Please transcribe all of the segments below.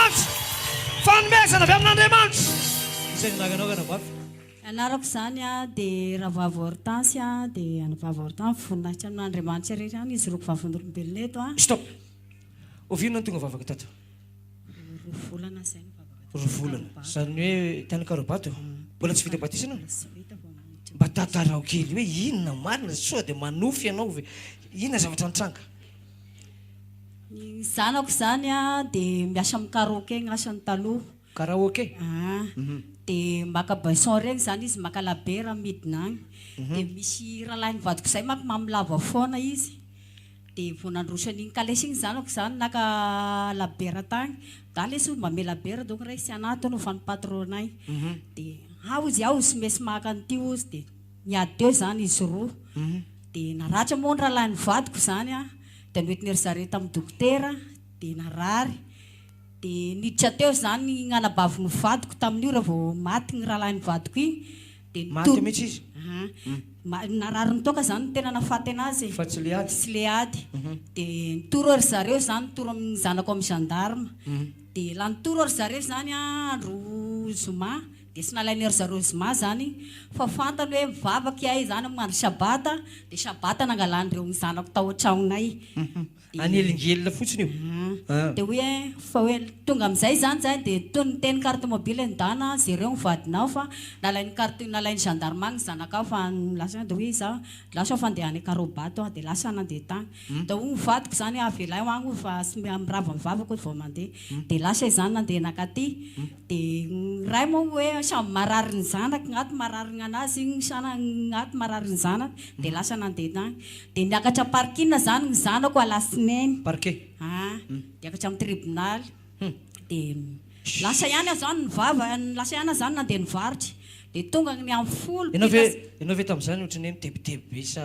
Andriamanitra. Fanomezana avy amin'Andriamanitra. Izay ny anaranao Ranabavy? Ny anarako izany dia Ravavy Hortense dia any Vavy Hortense voninahitra amin'Andriamanitra irery ihany izy roa vavin'olombelona eto a. Stop! Oviana no tonga vavaka tato? Roa volana izay no vavaka tato. Roa volana. Izany hoe tany Karabato. Mbola tsy vita batisa ianao? Tsy vita vao miditra. Mba tantarao kely hoe inona marina sao dia manofy ianao ve? Inona zavatra nitranga? Ny zanako izany dia miasa amin'ny karaoke ny asany taloha. Karaoke? An. Dia maka baisons ireny izany izy, maka labiera midina any. Dia misy rahalahiny vadiko izay manko mamilava foana izy. Dia vao nandroso an'iny kalesy iny ny zanako izany naka labiera tany. Za lesy hono mamehy labiera donc raiso tsy anatona hono fa ny patronay. Dia ao izy ao sy mesy maka an'ity hozy dia. Niady teo izany izy roa, dia naratra moa ny rahalahin'ny vadiko izany, dia noentin'i ry zareo tamin'ny dokotera, dia narary, dia niditra teo izany iny anabavin'ny vadiko tamin'io raha vao maty iny rahalahin'ny vadiko iny, dia nitoro, maty mihitsy izy? Aa, narary nitoaka izany no tena nahafaty an'azy e, fa tsy le ady, tsy le ady, dia nitoro ry zareo izany, nitoro amin'ny zanako amin'ny gendarme, dia la nitoro ry zareo izany andro zoma, Dia tsy nalain'i ry zareo zoma izany fa fantany hoe mivavaka ihay izany amin'ny andro sabata, dia sabata nangalan'ireo ny zanako tao an-tragnonay. Anelingelina fotsiny io an! Dia hoy ahy fa hoe tonga amin'izay izany izahay dia toy ny niteny carte mobile ny dana, jereo ny vadinao fa nalain'ny carte, nalain'ny gendarme agny ny zanakao fa lasa agny dia hoy izaho lasa aho fa ndeha any Ankarobato aho, dia lasa nandeha tagny. Dia hoy ny vadiko izany hoe avela eo agny hoy fa tsy mirava ny vavako hoy vao mandeha. Dia lasa izaho nandeha nankaty. Dia ny ray moa hoe samy marary ny zanaka, ngaty marary ny an'azy, iny sana ngaty marary ny zanaka, dia lasa nandeha tany. Dia niakatra parking izany ny zanako alatsinainy. Parquet. Aa, niakatra amin'ny tribonaly. Hum. Dia lasa ihany aho izany nivava, lasa ihany aho izany nandeha nivarotra. Dia tonga ny amin'ny folo, Ianao ve, ianao ve tamin'izany ohatran'ny hoe mitebiteby be sa.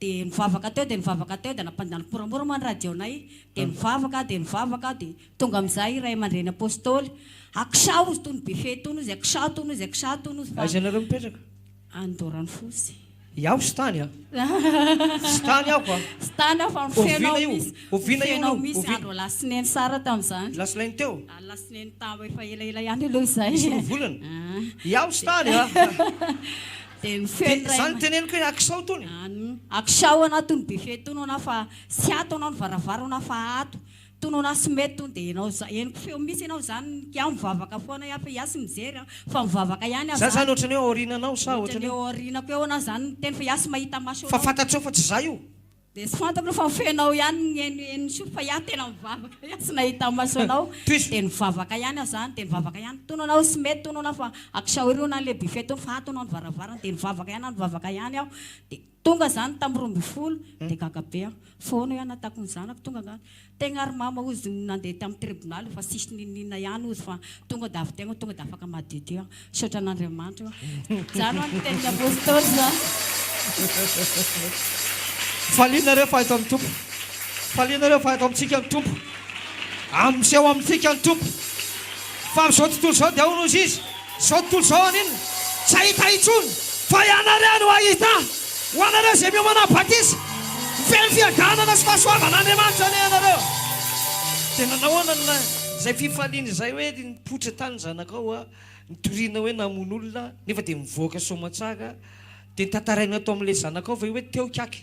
Dia nivavaka teo dia nivavaka teo dia nampandany moramora moa ny radio-nay dia nivavaka dia nivavaka dia tonga amin'izay ray aman-dreny apostoly Aksa ozy tony Befehy tony ozy Aksa tony ozy Aksa tony ozy fa Aiza ianareo mipetraka? Any Doranfosy. Iaho tsy tany an! Tsy tany aho an! Tsy tany aho fa mifeno aho misy, mifeno aho misy andro alasineny sara tamin'izany. Alasineny teo? Alasineny tam efa elaela ihany aloha izay. Nisolo volana? Iaho tsy tany an! Dia ny feo ny ray Zany teneniko hoe akisao tony. An, akisao anao tony buffet tony anao fa tsy ato anao ny varavara anao fa ato tony anao tsy mety tony dia enao za henoko feo mihintsy enao zany iaho mivavaka foana iaho fa iaho tsy mijery an fa mivavaka ihany aho Zany zany ohatran'ny hoe aoriananao sa ohatran'ny hoe. Ohatran'ny hoe aorianako eo anao zany miteny fa iaho tsy mahita maso anao. Fa fantatrao fa tsy za io. Dia tsy fantako fa feno anao ihany ny eny eny soa fa iah tena mivavaka iah tsy nahita maso anao dia nivavaka ihany aho zany dia nivavaka ihany tono anao tsy mety tono anao fa akisao ery hono any le buffet tono fa ato hono any varavarana dia nivavaka ihany aho nivavaka ihany aho dia tonga zany tamin'ny roa ambin'ny folo dia gaga be aho fa hono hoy aho nahatakon'ny zanako tonga angaha Tegna ry mama ozy no nandeha tam tribonaly fa tsisy ninoninona ihany ozy fa tonga da avy tegna tonga da afaka madio teo an! Misaotra an'Andriamanitra o! Zany ho'a ny tenin'ny Apostoly zany! Faliana re fa eto ny Tompo. Faliana re fa eto amintsika ny Tompo. Am miseho amintsika ny Tompo. Fa amin'izao tontolo izao dia ahoana ozy Izy? Izao tontolo izao an'inona? Tsy hahita intsony, fa ianareo no hahita, ho anareo izay miomana batisa. Mifehy fiadanana sy fahasoavan'Andriamanitra anie ianareo. Dia nanao ahoana ny lahy? Izay fifaliana izay hoe nipoitra tany ny zanakao a, nitoriana hoe namono olona, nefa dia nivoaka soamantsara, dia tantarainao tao amin'ilay zanakao ve hoe teo Kyaky?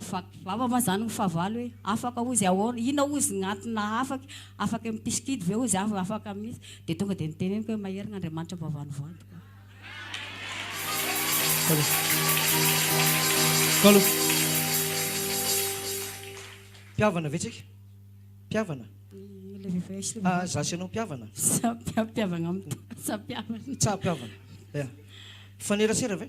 Fa vava va zany ny fahavalo e? Afaka ozy ahoana? Inona ozy ny antony nahafaky? Afaky mipisikidy ve ozy aho? Afaka mihitsy. Dia tonga dia niteneniko hoe maherigna Andriamanitra vao vanovanto ka. Kalo. Mpihavana ve tsika? Mpihavana? Ah, za sy anao mpihavana? Sa mpihavana am tsa mpihavana. Tsa mpihavana. Mifanerasera ve?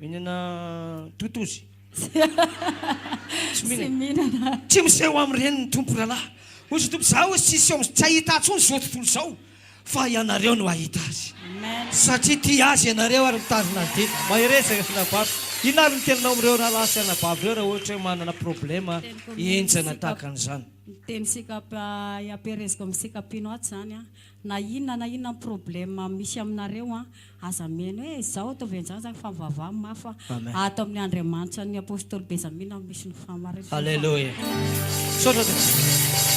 Mihinana totozy. Tsy mihinana. Tsy miseho amin'ireny ny Tompo rahalahy. Hoy Izy Tompo, Izaho tsy hiseho amin'izay tsy hahita Ahy intsony izao tontolo izao, fa ianareo no hahita Azy. Satria tia Azy ianareo ary mitazona Azy dia. Mahereza ry anabavy. Inona ary ny teninao amin'ireo rahalahy sy anabavy ireo raha ohatra hoe manana problema henjana tahaka an'izany? Ny teny sikap iampihereziko amin'ny sikapinao ato izany an. Na inona na inona problème misy aminareo an, aza mihaino hoe izao ataovy an'izany izany fa mivavaha mafy fa Amen. ato amin'ny Andriamanitra ny Apostoly Bezamina no misy ny fahamarinana. Alléluia. Misaotra tompoko.